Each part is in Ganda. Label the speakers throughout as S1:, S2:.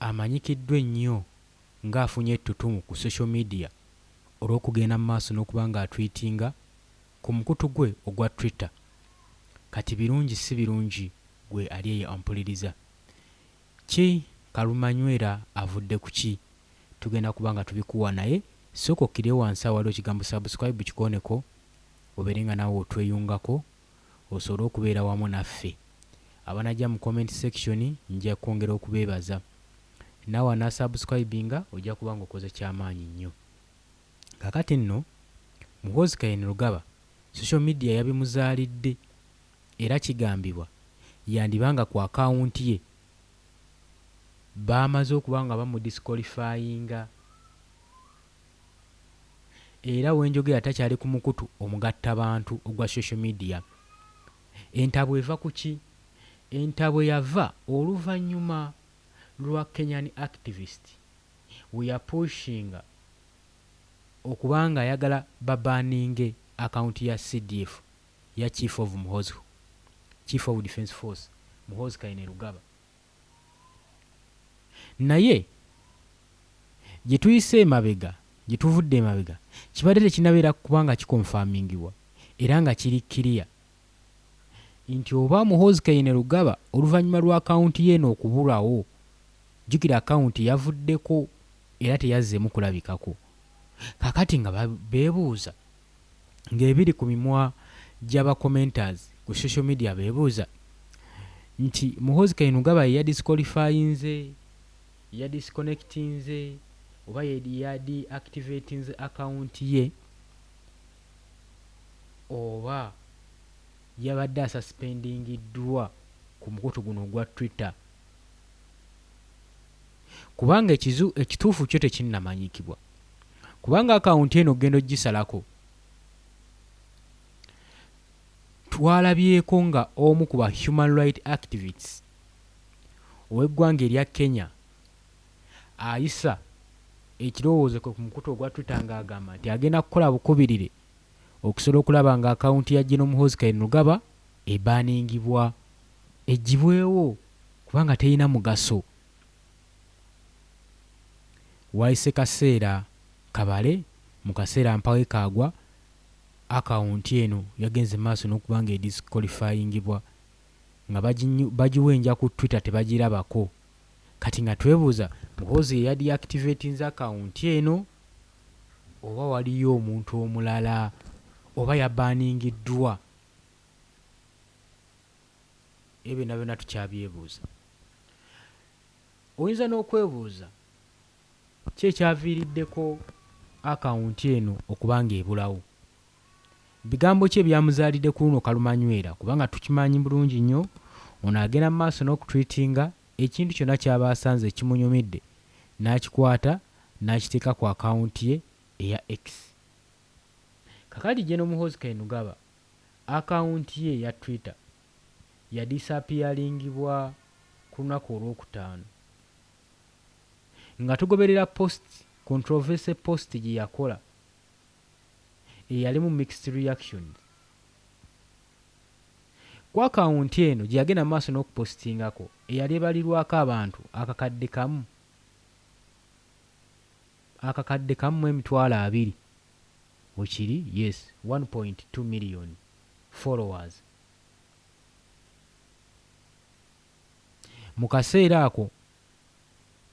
S1: amanyikiddwa ennyo nga afunye ettutumu ku social media olw'okugenda mu maaso n'okuba nga atwitinga ku mukutu gwe ogwa Twitter kati birungi si birungi gwe ali eyo ampuliriza ki kalumanywera avudde ku ki tugenda kuba nga tubikuwa naye sooka okkire wansi awali ekigambo subscribe kikooneko obeere nga naawe otweyungako osobole okubeera wamu naffe. Abanajja mu comment section nja kwongera okubebaza. Nawe ana subscribinga ojja kuba nga okoze kyamaanyi nnyo. Kakati nno Muhoozi Kainerugaba social media yabimuzaalidde era kigambibwa yandiba nga ku account ye baamaze okuba nga bamu disqualifyinga. Era we njogera takyali ku mukutu omugattabantu ogwa social media. Entabwe eva ku ki? Entabwe yava oluvannyuma lwa Kenyan activist we yapushinga okuba ng'ayagala babaninge akawunti ya CDF ya Chief of Muhoozi, Chief of Defence Force, Muhoozi Kainerugaba. Naye gye tuyise emabega, gye tuvudde emabega, kibadde tekinabeera kuba nga kikonfamingibwa era nga kiri kkiriya nti oba Muhoozi Kainerugaba oluvannyuma lwa akawunti ye eno okubulawo, jjukira akawunti yavuddeko era teyazzeemu kulabikako, kaakati nga beebuuza. ng'ebiri ku mimwa gy'aba commenters ku social media beebuuza nti Muhoozi Kainerugaba ye yadisqualifyinze, yadisconnectinze oba yadiactivatinze account ye oba yabadde asuspendingiddwa ku mukutu guno ogwa Twitter. kubanga ekizu ekituufu kyo tekinnamanyikibwa. Kubanga akawunti eno ogenda ogisalako. Twalabyeko nga omu ku ba human right activists ow'eggwanga erya Kenya ayisa ekirowoozo kwe ku mukutu ogwa Twitter nga agamba nti agenda kukola bukubirire okusobola okulaba nga akawunti ya General Muhoozi Kainerugaba ebaningibwa, eggyibwewo kubanga terina mugaso. Wayise kaseera kabale, mu kaseera mpawo ekaagwa, akawunti eno yagenze mu maaso n'okuba ng'edisikolifayingibwa nga bagiwenja ku Twitter tebagirabako. Kati nga twebuuza, Muhoozi ye yadiyaakitiveetinze akawunti eno oba waliyo omuntu omulala oba yabaaningiddwa? Ebyo byonna byonna tukyabyebuuza. Oyinza n'okwebuuza ki ekyaviiriddeko akawunti eno okuba ng'ebulawo. Bigambo ki ebyamuzaalidde ku luno kalumanywera kubanga tukimanyi bulungi nnyo ono agenda mu maaso n'okutwitinga ekintu kyonna ky'aba asanze ekimunyumidde n'akikwata n'akiteeka ku akawunti ye eya X. Kakati General Muhoozi Kainerugaba Akawunti ye eya Twitter yadisaapiyalingibwa ku lunaku olwokutaano. Nga tugoberera post controversy post gye yakola eyalimu mixed reactions ku akawunti eno gye yagenda mu maaso n'okupositingako eyali ebalirwako abantu akakadde kamu akakadde kamu mu emitwalo abiri Wekiri yes one point two million followers mukaseera ako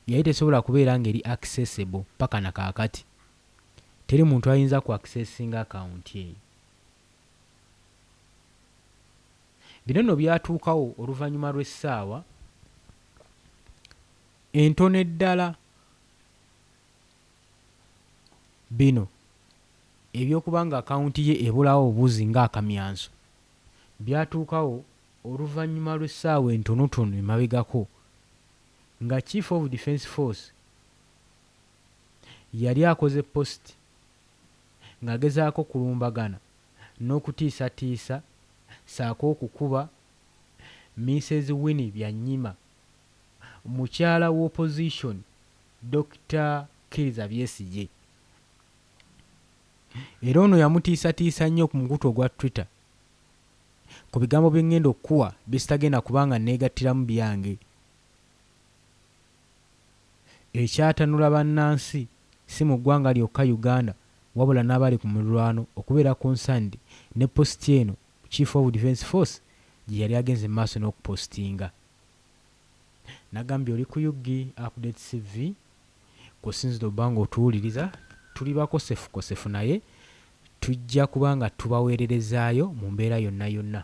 S1: yali tesobola kubeera nga eri accessible paka na kakati teri muntu ayinza ku accessinga account eyo bino no byatuukawo oluvanyuma lw'essaawa entono eddala. Bino eby'okuba nga akawunti ye ebulawo obuzi nga akamyanso, byatuukawo oluvannyuma lw'essaawa entonotono emabegako nga Chief of Defence Force yali akoze post ng'agezaako okulumbagana n'okutiisatiisa ssaako okukuba Minsez Winnie Byanyima. mukyala wa opposition Dokita Kiriza Byesigye era ono yamutiisatiisa nnyo ku mukutu ogwa Twitter ku bigambo bye ngenda okukuwa byesitagenda kuba nga neegattiramu byange ekyatanula bannansi si mu ggwanga lyokka Uganda wabula n'abali ku mulirwano okubeera concerned ne post eno Chief of Defence Force gye yali agenze mu maaso n'okupositinga. Nagambye oli ku ug update CV kw'osinzidde obba ng'otuwuliriza. Tuli bakosefukosefu naye tujja kuba nga tubaweererezaayo mu mbeera yonna yonna.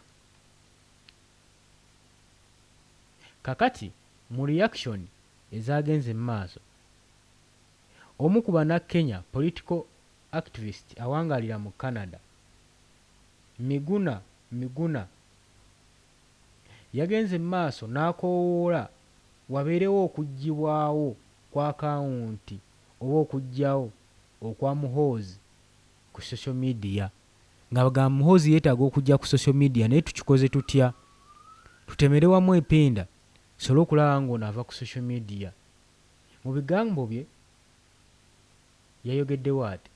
S1: Kakati mu reaction ezaagenze mu maaso, omu ku Bannakenya political activist awangaalira mu Canada, Miguna, Miguna yagenze mu maaso n'akoowoola wabeerewo okuggyibwawo kw'akawunti oba okuggyawo okwa Muhoozi ku social media ng'abagamba Muhoozi yeetaaga okujja ku social media naye tukikoze tutya? Tutemere wamu epinda tusobole okulaba ng'ono ava ku social media. Mu bigambo bye, yayogeddewo ati,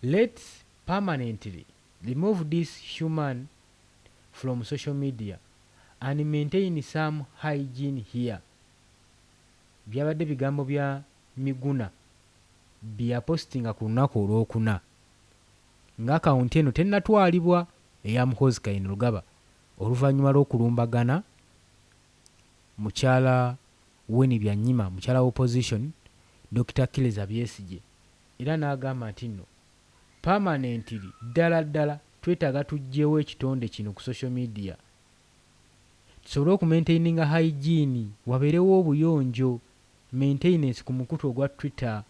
S1: Let's permanently remove this human from social media and maintain some hygiene here Byabadde bigambo bya Miguna bye yapositinga ku lunnaku Olwokuna nga akawunti eno tennatwalibwa eya Muhoozi Kainerugaba oluvannyuma lw'okulumbagana mukyala Winnie Byanyima mukyala wa opposition Dokita Killza Byesigye era n'agamba ntinno permanently ddala ddala twetaaga tuggyewo ekitonde kino ku social media tusobole okumaintaininga hygiene wabeerewo obuyonjo, maintainance, ku mukutu ogwa Twitter.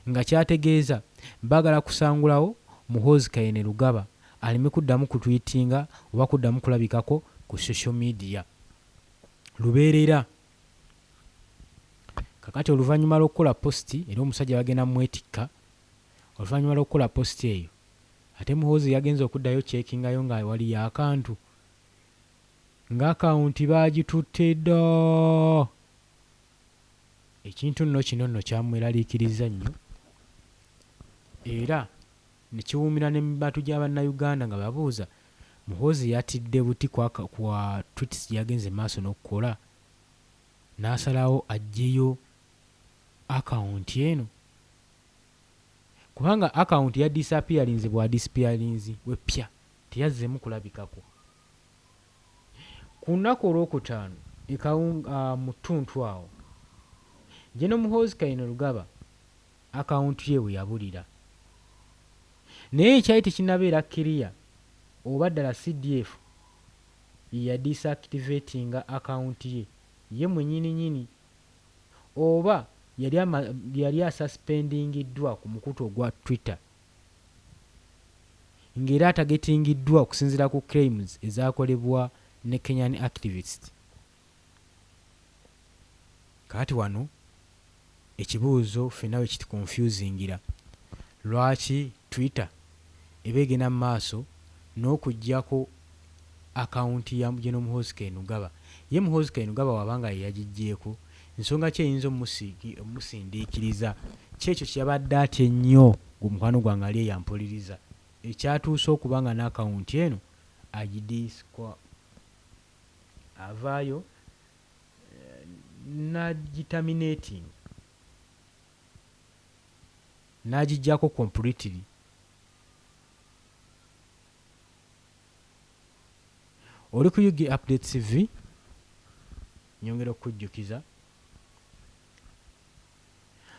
S1: nga kyategeeza bagala kusangulawo Muhoozi Kainerugaba aleme kuddamu kutwitinga oba kuddamu kulabikako ku social media lubeerera. Kakati oluvanyuma lw'okukola post era omusajja bagenda mwetikka, oluvanyuma lw'okukola post eyo ate Muhoozi yagenze okuddayo checkingayo nga waliyo akantu nga account baagitutte dda! Ekintu nno kino nno kyamweraliikirizza nnyo era ne kiwuumira ne mu bantu gya Bannayuganda nga babuuza, Muhoozi yatidde buti ku aka ku tweets gye yagenze mu maaso n'okukola n'asalawo aggyeyo akawunti eno kubanga akawunti yadisapiyalinze bwadisipiyalinzi we ppya teyazzeemu kulabikako. Ku lunaku olwokutaano e Kawunga mu ttuntu awo, General Muhoozi Kainerugaba akawuntu ye we yabulira. Naye ekyali tekinnabeera kkiriya oba ddala CDF ye yadisaakitiveetinga akawunti ye ye mwennyininyini oba yali yali asasipendingiddwa ku mukutu ogwa Twitter. ng'era atagetingiddwa okusinziira ku claims ezakolebwa ne Kenyan activist. Kaati wano ekibuuzo ffenna wekituconfusingira, lwaki Twitter eba egenda mu maaso n'okuggyako akawunti ya General Muhoozi Kainerugaba, ye Muhoozi Kainerugaba bw'aba nga ye yagiggyeeko, nsonga ki eyinza okumusindiikiriza? Ky'ekyo kye yabadde atya ennyo ng'omukwano gwange ali eyo ampuliriza, ekyatuuse okuba nga n'akawunti eno agidiscwa avaayo n'agiterminating, n'agiggyako completely. Oli ku Ug Updates TV, nyongera okukujjukiza,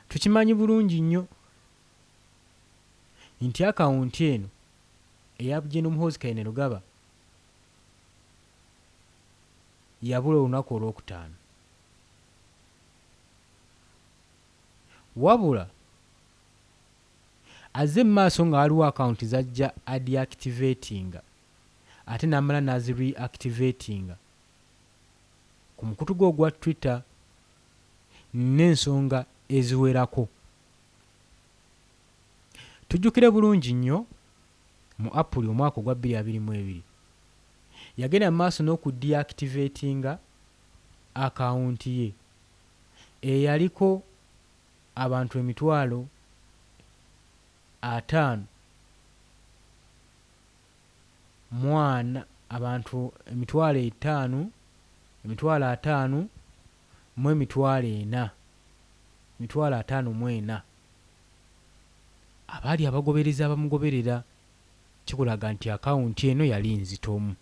S1: tukimanyi bulungi nnyo nti akawunti eno eya Gen Muhoozi Kainerugaba yabula olunaku olwokutaano wabula Azze mu maaso nga waliwo akawunti z'ajja adiactivatinga ate n'amala n'azireactivatinga ku mukutu gwe ogwa Twitter n'ensonga eziwerako. Tujjukire bulungi nnyo mu Apuli omwaka ogwa bbiri abiri mu ebiri, yagenda mu maaso n'okudiactivatinga akawunti ye eyaliko. abantu emitwalo ataano mu ana abantu emitwalo etaano emitwalo ataano mu emitwalo ena emitwalo ataano mu ena abaali abagoberezi abamugoberera kikulaga nti akawunti eno yali nzitomu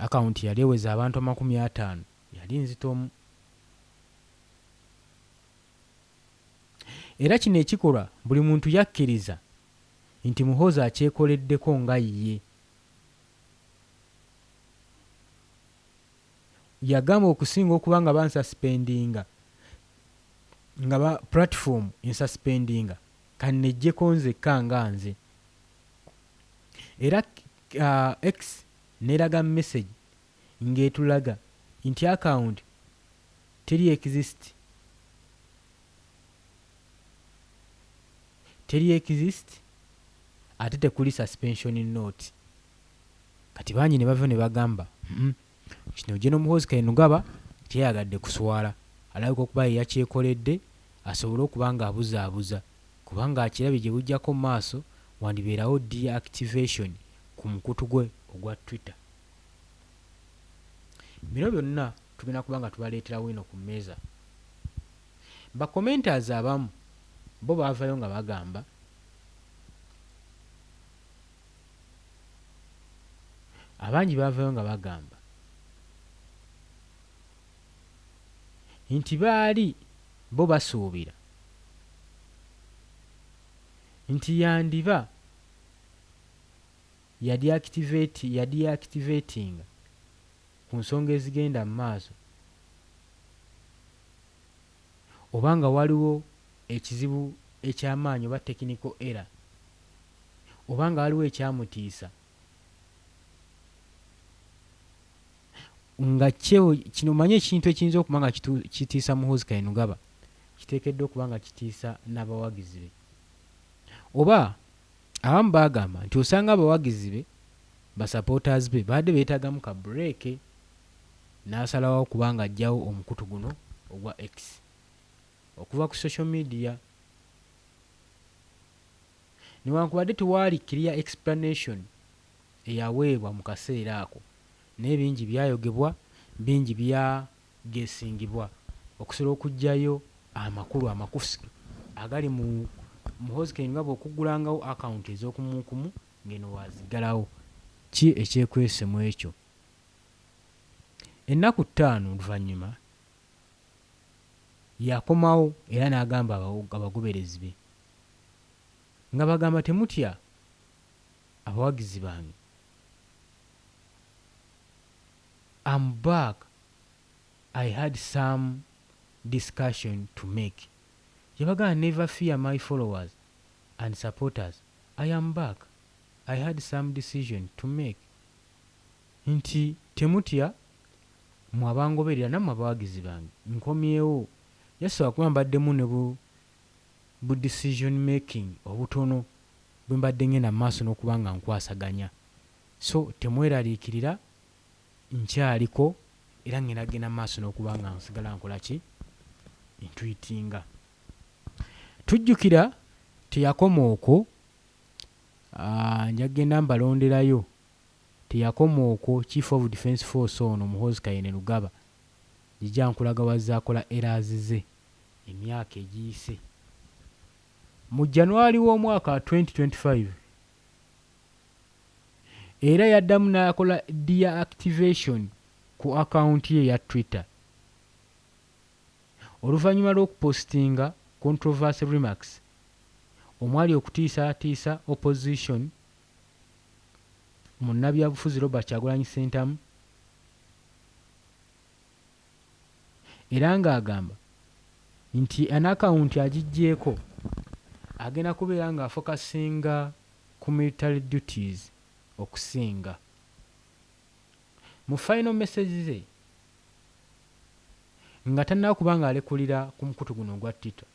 S1: akawunti yali eweza abantu amakumi ataano. Yali nzitomu. Era kino ekikolwa buli muntu yakkiriza nti Muhoozi akyekoleddeko nga ye. Yagamba okusinga okuba nga bansaspendinga nga ba platform ensaspendinga kannejjeko nzekka nga nze. Era X neraga message. ngetulaga inti account teri exist teri exist ate tekuli suspension note kati bangi nebavayo nebagamba uhmm kino General Muhoozi Kainugaba teyayagadde kuswala alabika okuba yeyakyekoledde asobole okuba nga abuzabuza kubanga akirabye gyebujjako mumaaso wandiberawo deactivation kumukutu gwe ogwa twitter. Bino byonna tugenda kuba nga tubaleeterawo eno ku mmeeza. Ba commenters abamu bo baavayo nga bagamba abangi baavayo nga bagamba nti baali bo basuubira nti yandiba yadiactivatinga ku nsonga ezigenda mu maaso oba nga waliwo ekizibu eky'amaanyi oba technical error oba nga waliwo ekyamutiisa nga kyo kino manya ekintu ekiyinza okuba nga kitiisa Muhoozi Kainerugaba kiteekeddwa okuba nga kitiisa n'abawagizi be oba Abamu bagamba nti osanga abawagizi be, ba supporters be, babadde beetagamu ka break n'asalawo okuba ng'aggyawo omukutu guno ogwa X okuva ku social media. Newankubadde tewaali clear explanation eyaweebwa mu kaseera ako, naye bingi byayogebwa, bingi bya. gesingibwa okusobola okujjayo amakulu amakusu agali mu Muhoozi Kayini nga bw'okuggulangawo akawunti ez'okumuukumu ng'eno waaziggalawo. Ki ekyekwese mu ekyo? Ennaku ttaano oluvannyuma yakomawo era n'agamba abaw abagoberezi be nga bagamba temutya abawagizi bange. Am back I had some discussion to make yabagana never fear my followers and supporters I am back I had some decision to make nti temutya mwe abangoberera namwe abawagizi bange nkomyewo just lwakuba mbaddemu ne bu bu decision making obutono bwembadde ngenda mumaaso nokuba nga nkwasaganya So temweraliikirira, nkyaliko era ŋŋenda kugenda mu maaso n'okuba nga nsigala nkola ki? Ntwitinga. Tujjukira teyakoma okwo, nja kugenda mbalonderayo, teyakoma okwo, Chief of Defence Force ono Muhoozi Kainerugaba, njija nkulaga w'azze akola errors ze emyaka egiyise. Mu January w'omwaka twenty twenty five, Era yaddamu n'akola deactivation ku akawunti ye eya Twitter oluvannyuma lw'okupositinga controversy remarks omwali okutiisaatiisa opposition munnabyabufuzi Robert Kyagulanyi Ssentamu, era ng'agamba nti eno akawunti agiggyeeko agenda kubeera ng'afokasinga ku military duties okusinga. Mu final message ze nga tannaba kuba ng'alekulira ku mukutu guno ogwa Twitter,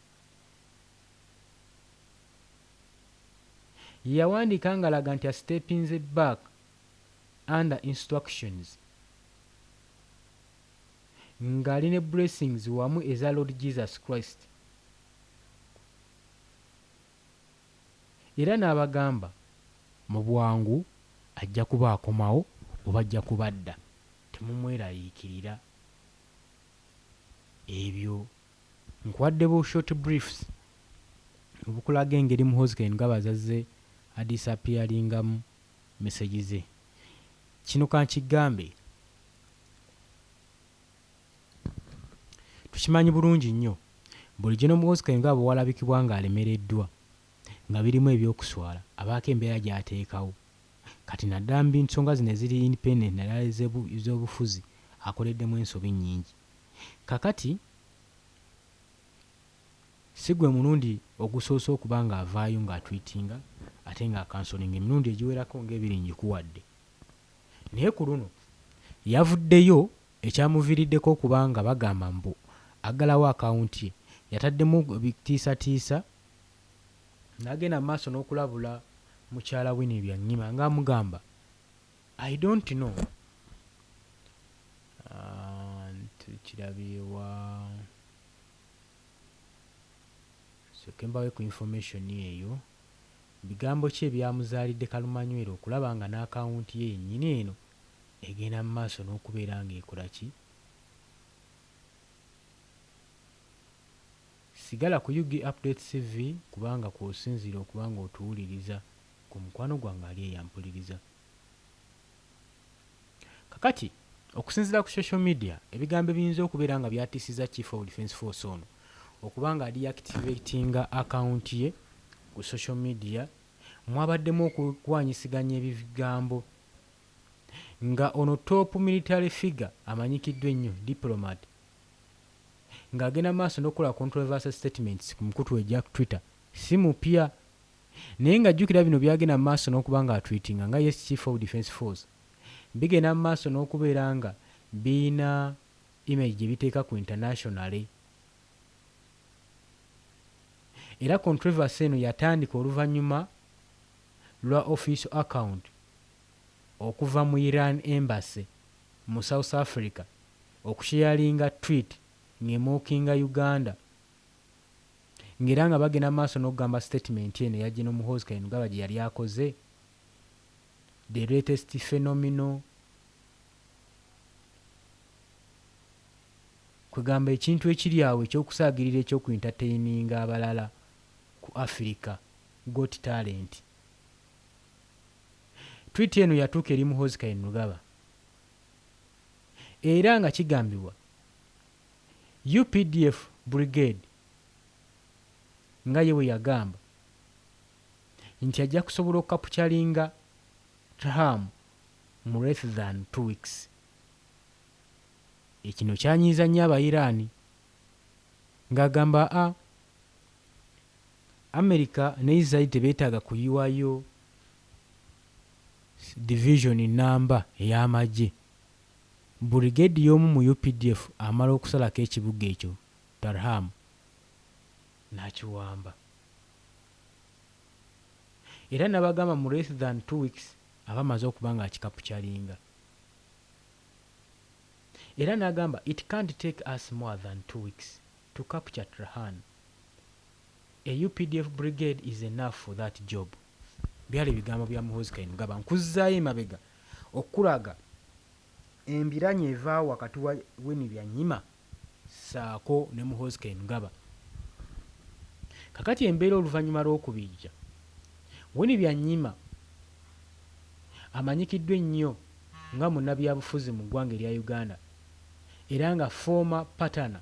S1: ye yawandiika ng'alaga nti a steppinze back under instructions. ngali ne blessings wamu eza lord Jesus Christ era nabagamba mubwangu ajja kuba akomawo oba ajja kuba adda temumwerayikirira ebyo nkuwadde bu short briefs obukulaga engeri muhoozi kainugaba zazze a disappearingamu. message ze. Kino kankigambe tukimanyi bulungi nnyo bulijjo n'omukozi kaye nga bwewalabikibwa nga alemereddwa nga birimu eby'okuswala abaako embeera gy'ateekawo kati naddala mu nsonga zino eziri independent naddala ez'obufuzi akoleddemu ensobi nnyingi. Kakati. Si gwe mulundi ogusoose okuba ng'avaayo ng'atwitinga ate ng'akansolinga, emirundi egiwerako ng'ebiri ngikuwadde naye ku luno yavuddeyo ekyamuviiriddeko okuba nga bagamba mbu aggalawo akawunti ye yataddemu ebitiisatiisa n'agenda mu maaso n'okulabula mukyala Winnie Byanyima ng'amugamba I don't know Tukirabye wa? Nsooke mbawe ku information eyo. Bigambo ki ebyamuzaalidde kalumanywera okulaba nga n'akawunti ye yennyini eno egenda mu maaso n'okubeera ng'ekola ki? Sigala ku Ug Updates TV kubanga kw'osinziira okuba ng'otuwuliriza ku mukwano gwange ali eyampuliriza. Kakati, okusinziira ku social media, ebigambo ebiyinza okubeera nga byatiisizza Chief of Defence Force ono okuba nga adeactivatinga account ye ku social media mwabaddemu okulwanyisiganya ebigambo nga ono top military figure amanyikiddwa ennyo, diplomat, nga agenda mu maaso n'okukola controversial statements ku mukutu egya Twitter si mupya. Naye nga jjukira bino byagenda mu maaso n'okuba nga atwiitinga nga ye Chief of Defence Force, bigenda mu maaso n'okubeera nga birina image gye biteeka ku internationally era controversy eno yatandika oluvannyuma lwa official account okuva mu Iran Embassy mu South Africa okusheyalinga tweet ng'emookinga Uganda nga era nga bagenda mu maaso n'okugamba statement eno eya General Muhoozi Kainerugaba gye yali akoze, the latest phenomenal, kwegamba ekintu ekiri awo eky'okusaagirira eky'oku entertaininga abalala ku Africa Got Talent. Tweet eno yatuuka eri Muhoozi Kainerugaba era nga kigambibwa updf Brigade nga ye bwe yagamba nti ajja kusobola okukapukyalinga Trham mu less than two weeks. Ekino kyanyiiza nnyo Abayiraani ng'agamba a Amerika ne Israel tebeetaaga kuyiwayo Division nnamba ey'amagye. Burigedi y'omu mu updf amala okusalako ekibuga ekyo Tarham n'akiwamba era nabagamba mu less than two weeks aba amaze okuba nga akikapukyalinga era nagamba it can't take us more than two weeks to capture Trhan, a updf brigade is enough for that job. Byali bigambo bya Muhoozi Kainerugaba. Nkuzzaayo emabega okukulaga embiranye eva wakati wa Winnie Byanyima ssaako ne Muhoozi Kainerugaba. Kakati embeera oluvannyuma lw'okubijja, Winnie Byanyima amanyikiddwa ennyo nga munnabyabufuzi mu ggwanga erya Uganda era nga former partner,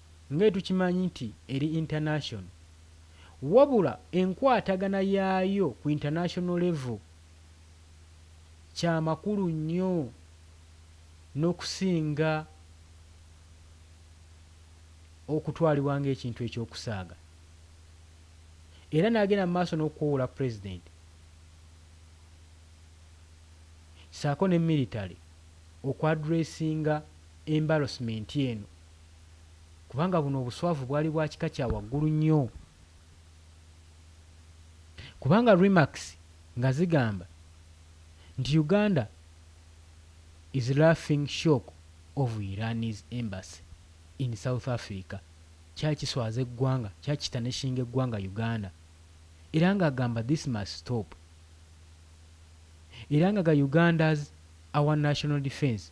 S1: ng'etukimanyi nti eri international wabula enkwatagana yaayo ku international level kyamakulu nnyo nokusinga okutwalibwa ng'ekintu eky'okusaaga era nagenda mu maaso n'okukowola president saako ne military oku addressinga embarrassment eno. kubanga buno obuswavu bwali bwa kika kya waggulu nnyo kubanga remarks nga zigamba nti Uganda is laughing shock of Iran's embassy in South Africa kyali kiswaza eggwanga, kyali kitanishinga eggwanga Uganda era nga agamba this must stop era nga ga Uganda's our national defence.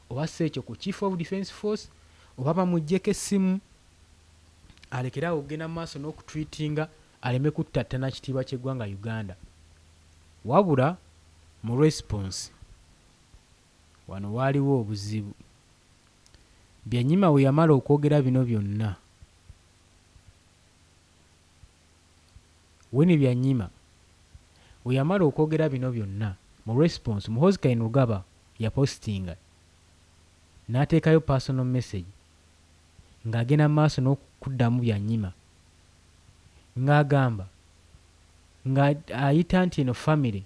S1: Oba si ekyo ku Chief of Defence Force oba bamuggyeko essimu alekere awo okugenda mu maaso n'okutreatinga aleme kuttattana kitiibwa ky'eggwanga Uganda. Wabula mu response wano waaliwo obuzibu. Byanyima bwe yamala okwogera bino byonna, Winnie Byanyima weyamala okwogera bino byonna, mu response Muhoozi Kainerugaba yapositinga n'ateekayo personal message ng'agenda mu maaso n'okuddamu Byanyima ng'agamba nga ayita nti eno famire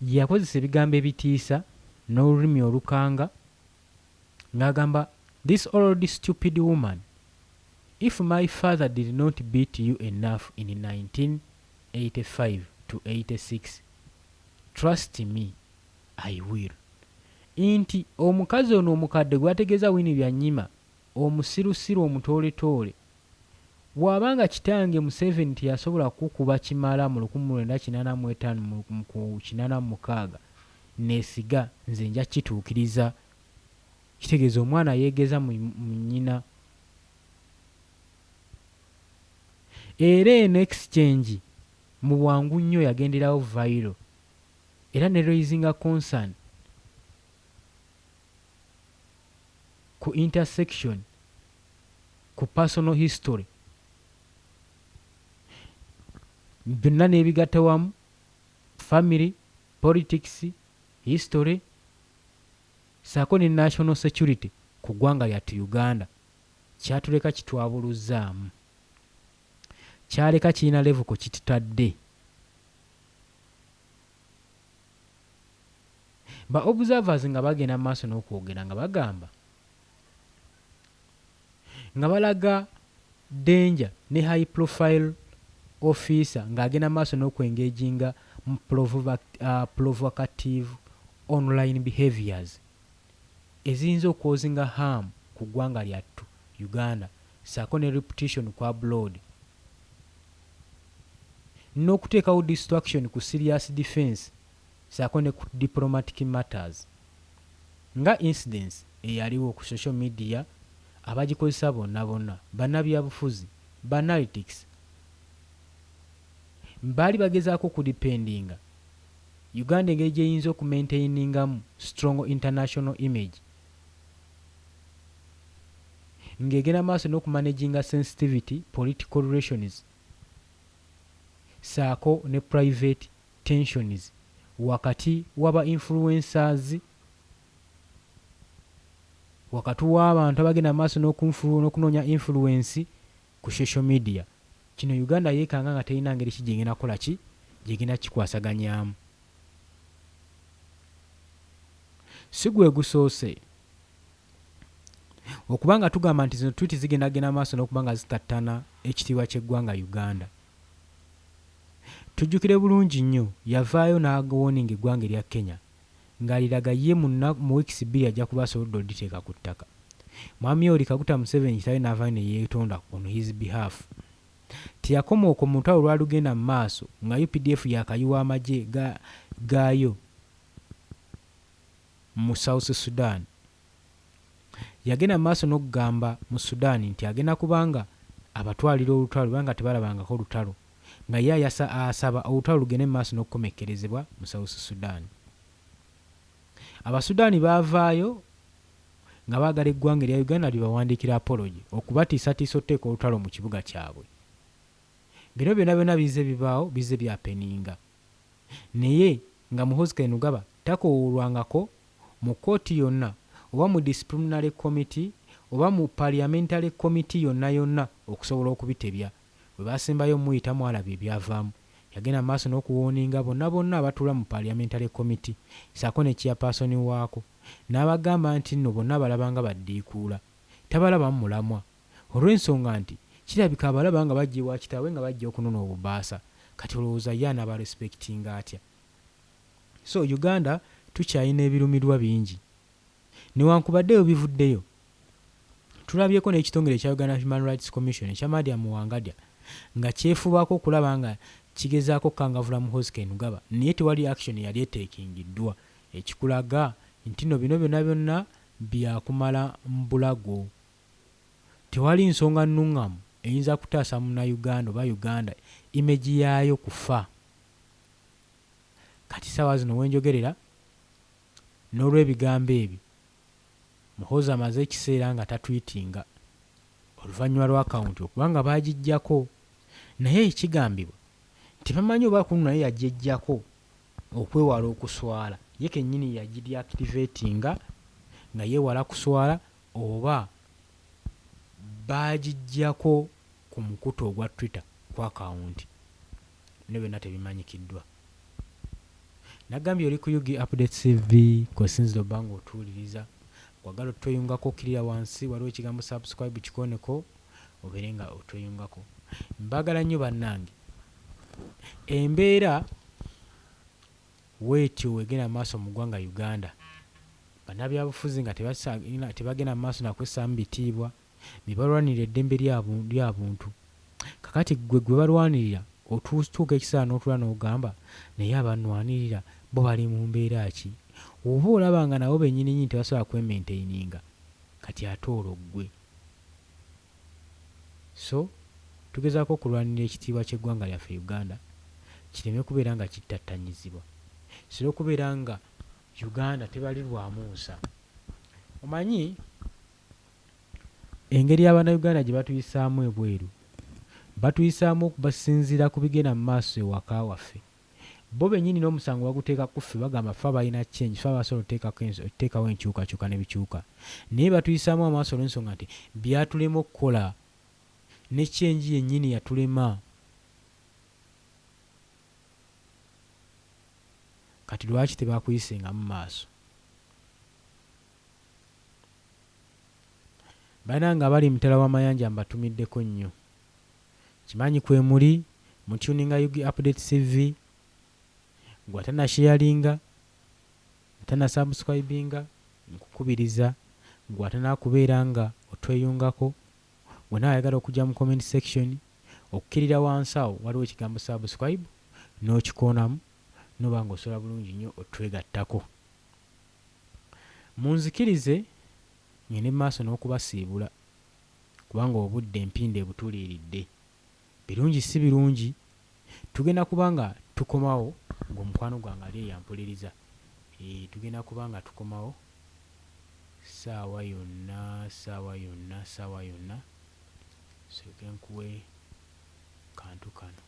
S1: yakozesa ebigambo ebitiisa n'olulimi olukanga, nga agamba this old stupid woman if my father did not beat u enough in 1985 to 86 trust me i will inti omukazi ono omukadde gwategeza winnie byanyima omusirusiru omutooletoole Bwaba nga kitange Museveni teyasobola kukukuba kimala mu lukumi lwenda kinaana mu etaano mu ku kinaana mu mukaaga nesiga nze nja kituukiriza. Kitegeeza omwana yegeza mu mu nnyina. Era eno exchange mu bwangu nnyo yagenderawo viral era ne raisinga concern ku intersection. ku personal history byonna nebigatta wamu, family, politics, history saako ne national security ku ggwanga lyattu Uganda kyatuleka kitwabuluzzaamu. Kyaleka kirina level kwe kitutadde. Ba observers nga bagenda mu maaso n'okwogera nga bagamba, nga balaga danger ne high profile officer nga agenda maaso noku engaginga mu provocative online behaviors eziyinza okwozinga harm ku gwanga lyattu Uganda saako ne reputition ku abroad nokutekawo distraction ku serious defence saako ne ku diplomatic matters nga incidents eyaliwo ku social media abagikozesa bonna bonna banabyabufuzi, banaltics baali bagezaako oku dependinga Uganda engeri gyeyinza oku maintainingamu strong international image nga egenda maaso noku managinga sensitivity political relations saako ne private tensions wakati waba influencers wakati wabantu abagenda mumaaso nokunoonya influence ku social media kino Uganda yekanga nga terina ngeri ki gyegenda kukola ki gyegenda kikwasaganyaamu sigwegusoose okuba nga tugamba nti zino tweet zigenda genda mumaaso nokuba nga zitattana ekitiibwa kyeggwanga Uganda. Tujjukire bulungi nnyo yavaayo n'agowoninga eggwanga erya Kenya ng'aliraga ye mu nnaku mu weeks bbiri ajja kuba asobodde oliteeka ku ttaka. Mwami Yoweri Kaguta Museveni kitaawe n'avaayo ne yeetonda on his behalf. Teyakoma okwo mu lutalo olwalugenda mu maaso nga updf yaakayiwa amagye ga gaayo. mu South Sudan. Yagenda mu maaso n'okugamba mu Sudan nti agenda kuba nga abatwalira olutalo lwe banga tebalabangako lutalo nga ye ayasa asaba olutalo lugende mu maaso n'okukomekkerezebwa mu South Sudan. Abasudaani baavaayo nga baagala eggwanga erya Uganda libawandiikire apology okubatiisatiisa okuteeka olutalo mu kibuga kyabwe. Bino byonna byonna bizze bibaawo bizze byapeninga. Naye nga Muhoozi Kainerugaba takowoolwangako mu kkooti yonna oba mu Disciplinary Committee oba mu Parliamentary Committee yonna yonna okusobola okubitebya. Bwe baasembayo omuyita mwalaba ebyavaamu. Yagenda mu maaso n'okuwooninga bonna bonna abatuula mu Parliamentary Committee ssaako ne Chairperson waako n'abagamba nti nno bonna abalaba nga baddiikuula. Tabalabamu mulamwa. olwensonga nti kirabika abalaba nga bajja ewa kitaawe nga bajja okunona obubaasa kati olowooza ye anaba respectinga atya so Uganda tukyayina ebirumirwa bingi newankubadde webivuddeyo tulabyeko nekitongere ekya Uganda Human Rights Commission ekya Mariam Wangadya nga kyefubaako okulaba nga kigezaako okukangavula Muhoozi Kainugaba naye tewali action eyali etekingiddwa ekikulaga ntino bino byona byonna byakumala mbulago. Tewali nsonga nnungamu eyinza kutaasa munayuganda oba Uganda image yaayo kufa. Kati saawa zino wenjogerera nolwebigambo ebyo Muhoozi amaze ekiseera nga tatweetinga oluvanyuma lwa account okuba nga baajijjako naye ekigambibwa nti bamanyi oba kunu naye yajejjako okwewala okuswala ye kenyini yajideactivatinga nga yewala kuswala oba baagiggyako ku mukutu ogwa Twitter ku akawunti ne byonna tebimanyikiddwa. Nagambye oli ku Ug Updates TV kw'osinzira obba ng'otuwuliriza. Bw'oyagala otweyungako okkirira wansi waliwo ekigambo Subscribe kikooneko obeere nga otweyungako. Mbaagala nnyo bannange. Embeera. Wetyo wegenda maaso mu gwanga Uganda. Banabyabufuzi nga tebagenda maaso na kwesaamu bitiibwa nebalwanirira eddembe lya buntu. Kakati gwe gwebalwanirira otuuka ekiseera notula nogamba naye abanwanirira bo bali mu mbeera ki? Oba olaba nga nabo benyininyini tebasobola kwe mentaininga kati ate olwo gwe? so tugezaako okulwanirira ekitiibwa ky'eggwanga lyaffe Uganda kireme kubeera nga kittattanyizibwa sira okubeera nga Uganda tebalirwamu nsa omanyi engeri abana Uganda gyebatuyisaamu ebweru batuyisaamu basinziira ku bigenda mu maaso ewaka waffe Bo benyini nomusango baguteeka kuffe bagamba ffe abalina change ffe abasobola otekako enso otekawo enkyukakyuka nebikyuka naye batuyisaamu amaaso olwensonga nti byatulema okukola ne change yenyini yatulema kati lwaki tebakuyisengamu maaso Banange abali emitala wamayanja mbatumiddeko nnyo. Nkimanyi kwemuli mu tuninga ug update CV gwe atanasheyalinga atanasubscribinga nkukubiriza gwe atanakubeera nga otweyungako gwe nawe ayagala okujja mu comment section okukirira wansi awo waliwo ekigambo subscribe nokikoonamu noba nga osobola bulungi nnyo otwegattako munzikirize ngende mumaaso nokubasiibula. kubanga obudde mpindi ebutuliiridde. Birungi si birungi, tugenda kuba nga tukomawo ng'omukwano gwange ali eyo ampuliriza. Eeh, tugenda kuba nga tukomawo ssaawa yonna, ssaawa yonna, ssaawa yonna. Nsooke nkuwe kantu kano.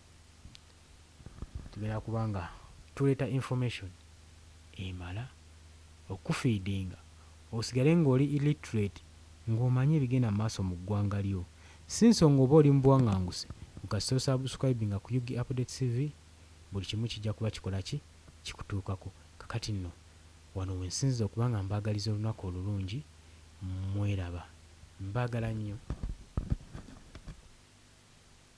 S1: Tugenda kuba nga tuleeta information emala okukufeedinga osigale ng'oli illiterate ng'omanyi ebigenda mu maaso mu ggwanga lyo. Si nsonga oba oli mu buwanganguse mbu kasita osubscribinga ku Ug Updates TV buli kimu kijja kuba kikola ki? Kikutuukako. Kakati nno wano we nsinziza okuba nga mbaagaliza olunaku olulungi. Mweraba. Mbaagala nnyo.